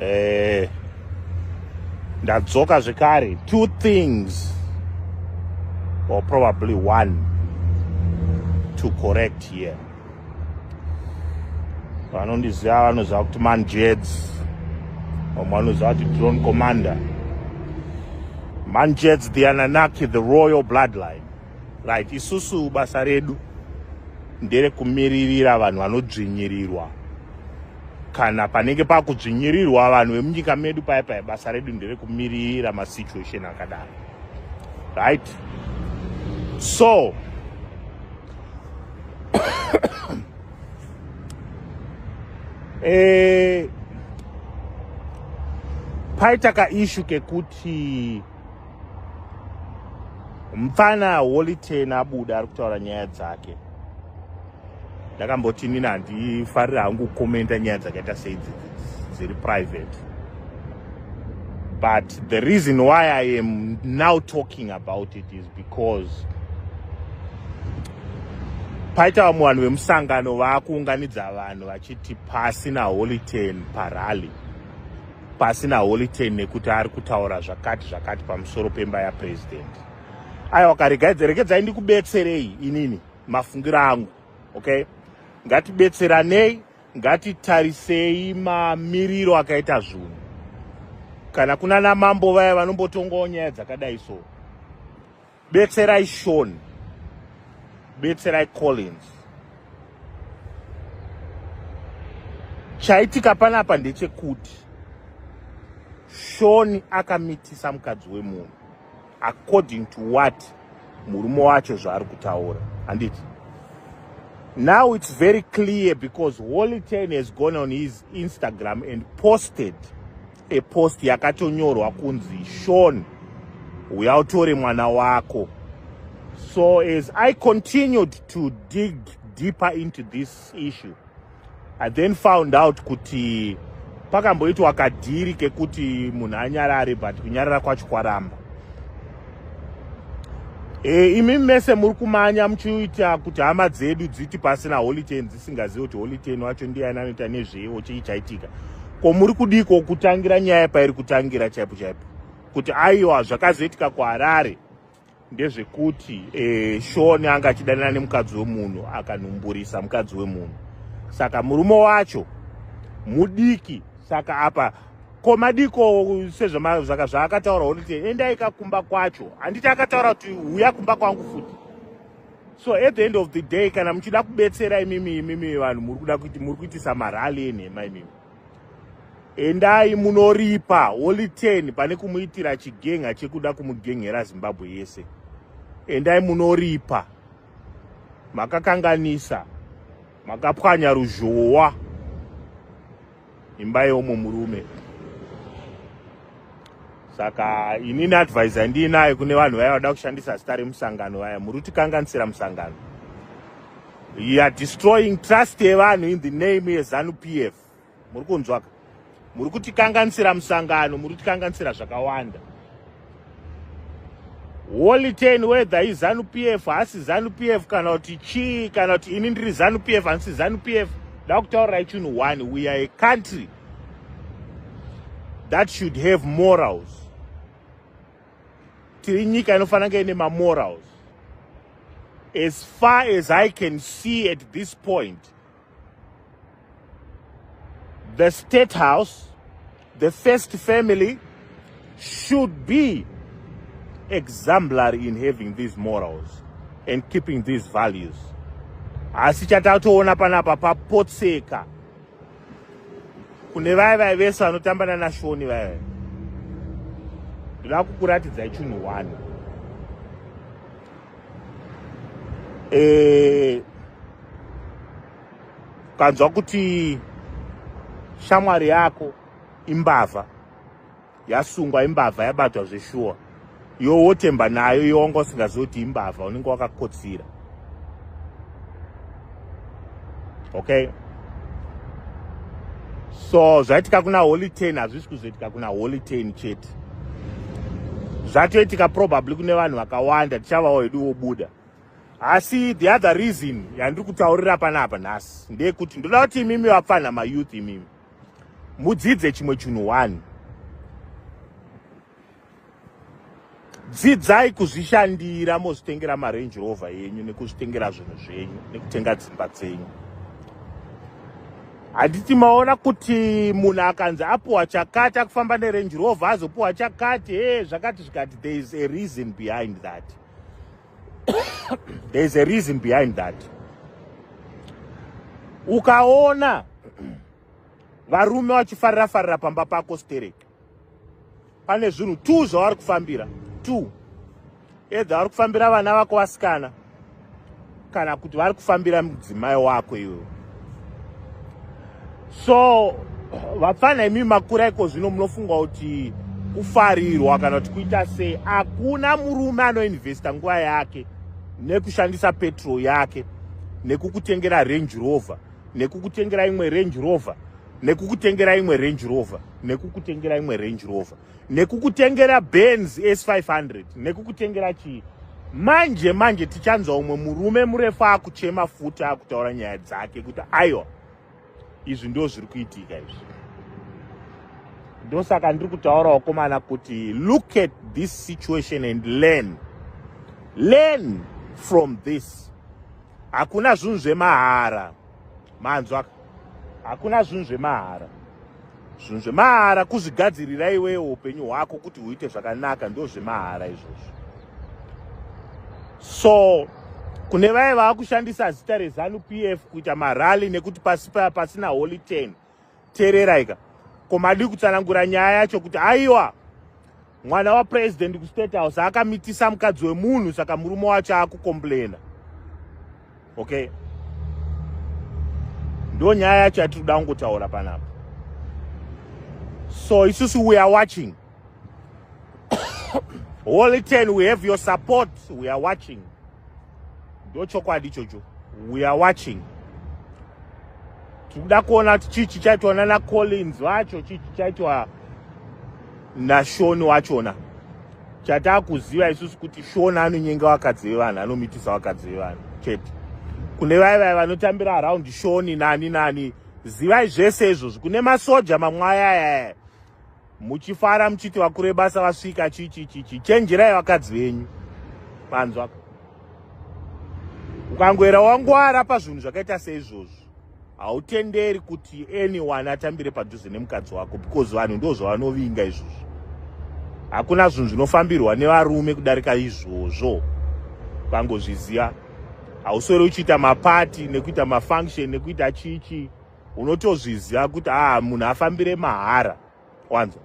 eh, ndadzoka zvekare two things or probably one to correct here vanondiziva vanoziva kuti manjeds vamwe vanoziva kuti drone commander manjeds the ananaki the royal bloodline Right, isusu basa redu ndere kumiririra vanhu vanodzvinyirirwa kana panenge pakudzvinyirirwa vanhu vemunyika medu paya paya basa redu ndere kumiririra masituation akadaro right so eh, paita kaishu kekuti mupfana holy ten abuda ari kutaura nyaya dzake ndakamboti nini handifarira hangu kukomenta nyaya dzakaita sei dziri private but the reason why i am now talking about it is because paita vamwe vanhu vemusangano vaakuunganidza vanhu vachiti pasi naholy ten parally pasina holiten nekuti ari kutaura zvakati zvakati pamusoro pemba yapresident aiwa karegaidze regedzai ndikubetserei inini mafungiro angu okay ngatibetseranei ngatitarisei mamiriro akaita zvinhu kana kuna namambo vaya vanombotongawo nyaya dzakadai so betserai shon betserai collins chaitika panapa ndechekuti shoni akamitisa mukadzi wemunhu according to what murume wacho zvaari kutaura handiti now it's very clear because holy ten has gone on his instagram and posted a post yakatonyorwa kunzi shon uya utore mwana wako so as i continued to dig deeper into this issue i then found out kuti pakamboitwa kadhiri kekuti munhu anyarare but kunyarara kwacho kwaramba e, imi mese muri kumanya muchiita kuti hama dzedu dziti pasina holitenzi singazivi kuti holy ten wacho ndiyani anoita nezveiwo chii chaitika ko muri kudiko kutangira nyaya pairi kutangira chaipo chaipo kuti aiwa zvakazoitika kuharare ndezvekuti e, eh, shoni anga achidanana nemukadzi wemunhu akanhumburisa mukadzi wemunhu saka murume wacho mudiki saka apa ko madiko sezvaka zvaakataura holy ten endai kakumba kwacho handiti akataura kuti huya kumba kwangu futi so at the end of the day kana muchida kubetsera imimi imimi vanhu muri kuda kuti muri kuitisa marali enhema imimi endai munoripa holy ten pane kumuitira chigenga chekuda kumugenghera zimbabwe yese endai munoripa makakanganisa makapwanya ruzhowa imba yeumwe murume saka inini advise andiinayo kune vanhu vaya vada kushandisa zita remusangano vaya muri kutikanganisira musangano you are destroying trust yevanhu in the name yezanu p f muri kunzwaka muri kutikanganisira musangano muri kutikanganisira zvakawanda Holy ten whether izanu PF hasi zanu PF kana kuti chii kana kuti ini ndiri zanu PF hansi zanu PF ndakutaurirai chinhu one we are a country that should have morals tiri nyika inofanira kunge ine mamorals as far as i can see at this point The state house, the first family should be exemplary in having these morals and keeping these values. Asi chatatoona panapa papotseka kune vaye vaye vese vanotamba nanashoni vaye ndoda kukuratidzai chinhu one eh, ukanzwa kuti shamwari yako imbavha yasungwa imbavha yabatwa zveshuwa iwo wotemba nayo iwo wanga usingazivi kuti imbavha unenge wakakotsira okay so zvaitika kuna holy ten hazvisi kuzoitika kuna holy ten chete zvatoitika probably kune vanhu vakawanda tichavawo hedu wobuda asi the other reason yandiri kutaurira panapa nhasi ndeyekuti ndoda kuti imimi vapfanha mayouth imimi mudzidze chimwe chinhu one dzidzai kuzvishandira mozvitengera marange rover yenyu nekuzvitengera zvinhu zvenyu nekutenga dzimba dzenyu handiti maona kuti munhu akanzi apuwa chakati akufamba nerange rover azopuwa chakati he zvakati zvikati there is a reason behind that there is a reason behind that ukaona varume vachifarira farira pamba pako stereki pane zvinhu two zvavari kufambira two edha vari kufambira vana vako vasikana kana kuti vari kufambira mudzimai wako iwe so vapfana imi makura iko zvino munofunga kuti kufarirwa kana kuti kuita sei hakuna murume anoinvesta nguva yake nekushandisa petrol yake nekukutengera range rover nekukutengera imwe range rover nekukutengera imwe range rover nekukutengera imwe range rover nekukutengera benz s500 nekukutengera chii manje manje tichanzwa umwe murume murefu akuchema futi akutaura nyaya dzake kuti aiwa izvi ndo zviri kuitika izvi ndosaka ndiri kutaura wakomana kuti look at this situation and learn learn from this hakuna zvinhu zvemahara manzwa hakuna zvinhu zvemahara zvinhu zvemahara kuzvigadzirira iwewo upenyu hwako kuti huite zvakanaka ndo zvemahara izvozvo so kune vaye vava kushandisa zita rezanu p f kuita marally nekuti pasi paya pasina holy ten teereraika ko madii kutsanangura nyaya yacho kuti aiwa mwana wapresident kustate house akamitisa mukadzi wemunhu saka murume wacho akukomplaina okay ndo nyaya yacho yatiri kuda kungotaura panapa so isusu we are watching Holy ten, we have your support. We are watching. Ndo chokwadi chocho. We are watching. Tikuda kuona kuti chii chichaitwa nana Collins wacho, chii chichaitwa naShoni wachona. Chataa kuziva isusu kuti Shoni anonyenga vakadzi vevanhu, anomitisa vakadzi vevanhu chete. Kune vaye vaye vanotambira around Shoni nani nani, zivai zvese izvozvo. Kune masoja mamwe ayayaya. muchifara muchiti vakuru vebasa vasvika chichichichi chenjerai vakadzi venyu panzwa ukangoera wangwara pazvinhu zvakaita seizvozvo hautenderi kuti anyone atambire padhuze nemukadzi wako because vanhu ndo zvavanovinga izvozvo hakuna zvinhu zvinofambirwa nevarume kudarika izvozvo ukangozviziva hausori uchiita mapati nekuita mafunction nekuita chichii unotozviziva kuti aa munhu afambire mahara wanzwa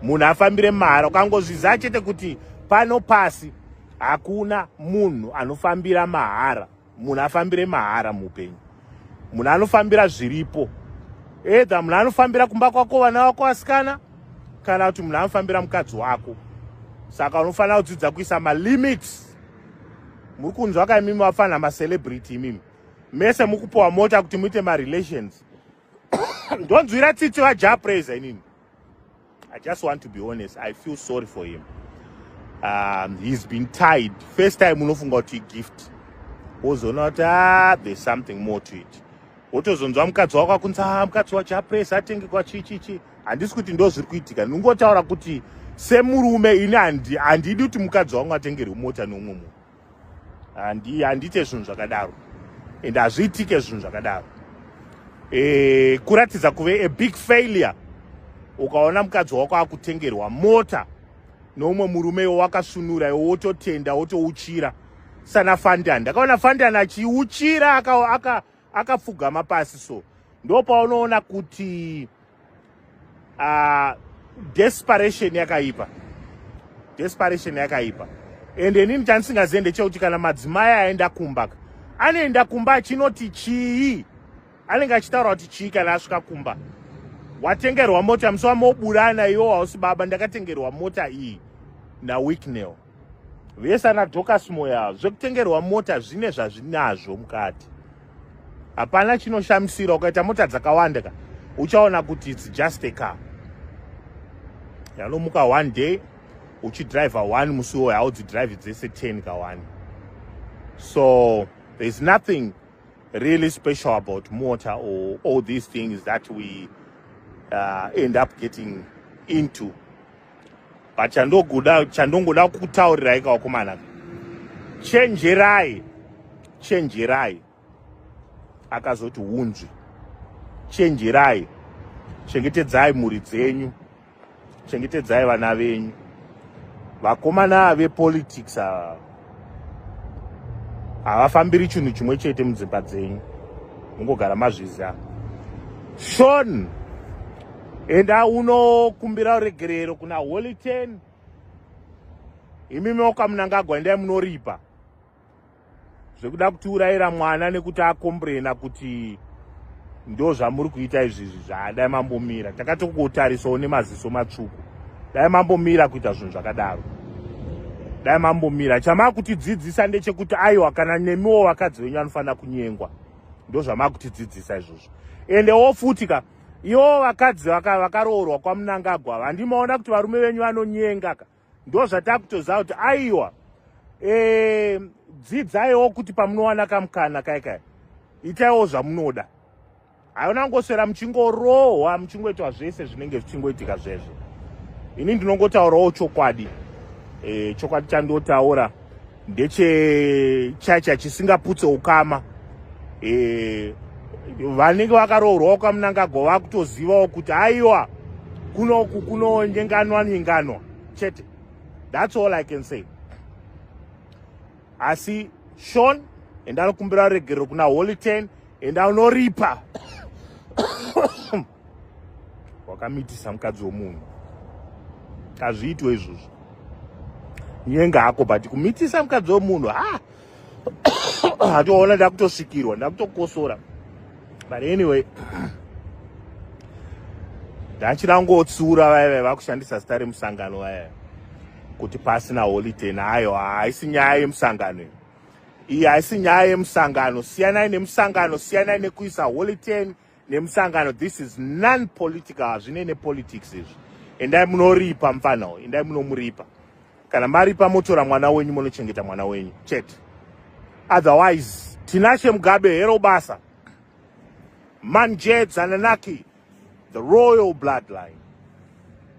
munhu afambire mahara ukangozviziva chete kuti pano pasi hakuna munhu anofambira mahara munhu afambire mahara muupenyu munhu anofambira zviripo edha munhu anofambira kumba kwako vana vako vasikana kana kuti munhu anofambira mukadzi wako saka unofanira kudzidza kuisa malimits muri kunzwa ka imimi vafanira macelebrity imimi mese mukupuwa mota kuti muite marelations ndonzwira tsitsi vaja praise inini i just want to be honest i feel sorry for him um, he's been tied first time unofunga kuti igift wozoona kuti ah, there's something more to it wotozonzwa mukadzi wako akunzi ah, mukadzi wacho apresa atenge kwachichichi handisi kuti ndo zviri kuitika ndingotaura kuti semurume ini handidi kuti mukadzi wangu atengerwe mota neumwe munhu handi handiite zvinhu zvakadaro and hazviitike zvinhu zvakadaro e, kuratidza kuve a big failure ukaona mukadzi wako akutengerwa mota noumwe murume iwo wakasunura iwo wototenda wotouchira sana fandan ndakaona fandan achiuchira aka, aka akapfugama pasi so ndopaunoona kuti uh, desperation yakaipa desperation yakaipa and inini chandisingazive ndechekuti kana madzimai aenda kumba ka anoenda kumba achinoti chii anenge achitaura kuti chii kana asvika kumba watengerwa mota musi wamoburana iwo hausi baba ndakatengerwa mota iyi nawicknell vese ana docas moyo avo zvekutengerwa mota zvine zvazvinazvo mukati hapana chinoshamisira ukaita mota dzakawanda ka uchaona kuti its just a car yanomuka one day uchidriver one musi woyo haudzidrive dzese ten ka one so thereis nothing really special about mota or all these things that we uh, end up getting into but chandogoda chandongoda kutaurirai kavakomana chenjerai chenjerai akazoti hunzvi chenjerai chengetedzai mhuri dzenyu chengetedzai vana venyu vakomana vepolitics ava havafambiri chinhu chimwe chete mudzimba dzenyu mungogara mazviziva shon enda unokumbira uregerero kuna holy ten imi maoka munangagwa endai munoripa zvekuda kutiurayira mwana nekuti akombrena kuti ndo zvamuri kuita izvizvi zvaadai mambomira takatokutarisawo nemaziso matsvuku dai mambomira kuita zvinhu zvakadaro dai mambomira chamakutidzidzisa ndechekuti aiwa kana nemiwo vakadzi venyu vanofanira kunyengwa ndo zvamakutidzidzisa izvozvo ende wo futi ka iwo vakadzi vakaroorwa kwamunangagwa vandimaona kuti varume venyu vanonyenga ka ndozvatakutoziva kuti aiwa eh, dzidzaiwo kuti pamunowana kamukana kai kai itaiwo zvamunoda haona kungoswera muchingorohwa muchingoitwa zvese zvinenge zvichingoitika zvezvo ini ndinongotaurawo chokwadi e, chokwadi chandotaura ndechechacha chisingaputse ukama e, vanenge vakaroorwawo kamunangagwa vakutozivawo kuti aiwa kunoku kunonyenganwa nyenganwa chete thats all i can say asi shon enda anokumbira regerero kuna holy ten enda unoripa wakamitisa mukadzi wemunhu kazviitwe izvozvo nyenga hako but kumitisa mukadzi wemunhu ha hatoona ndakutosvikirwa ndakutokosora but anyway ndachirangotsura vaive vakushandisa zita remusangano vaive kuti pasina holiday nayo haisi nyaya yemusangano iyi haisi nyaya yemusangano siyanai nemusangano siyanai nekuisa holiday nemusangano this is non political hazvine nepolitics izvi endai munoripa mfana uyu endai munomuripa kana maripa motora mwana wenyu monochengeta mwana wenyu chete otherwise tinashe mugabe hero basa manjed zananaki the royal bloodline